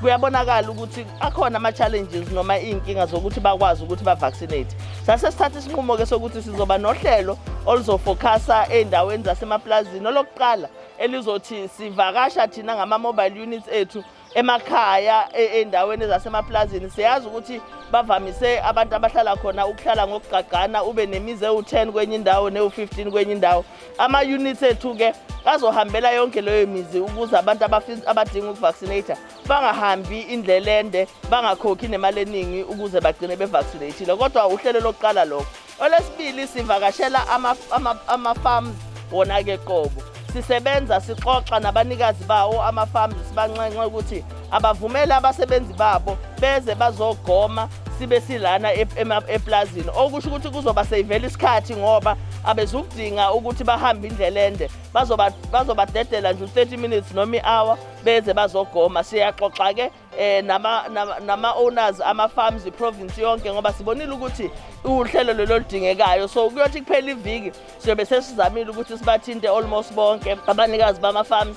kuyabonakala ukuthi akhona ama-challenges noma iy'nkinga zokuthi bakwazi ukuthi bavaccinate sase sithatha isinqumo-ke sokuthi sizoba nohlelo oluzofokhasa ey'ndaweni zasemapulazini olokuqala elizothi sivakasha thina ngama-mobile units ethu emakhaya e, ey'ndaweni ezasemapulazini siyazi ukuthi bavamise abantu abahlala khona ukuhlala ngokugqagqana ube nemizi ewu-10 kwenye indawo newu-15 kwenye indawo Ama-unit ethu-ke azohambela yonke leyo mizi ukuze abantu abadinga ukuvaccinata bangahambi indlela ende bangakhokhi nemali eningi ukuze bagcine bevaccinatile kodwa uhlelo lokuqala lokho olwesibili sivakashela ama-farms wona-ke qobo sisebenza sixoxa nabanikazi bawo ama-farms sibanxenxe ukuthi abavumele abasebenzi babo beze bazogoma sibe silana eplazini okusho ukuthi kuzoba seyivela isikhathi ngoba abezukudinga ukuthi bahambe indlela ende bazobadedela nje u-30 minutes noma i-hour beze bazogoma siyaxoxa-ke um eh, nama-owners ama-farms iprovince yonke ngoba sibonile ukuthi uhlelo lelo oludingekayo so kuyothi kuphela iviki siyobe sesizamile ukuthi sibathinte almost bonke abanikazi bama-farms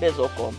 bezogoma.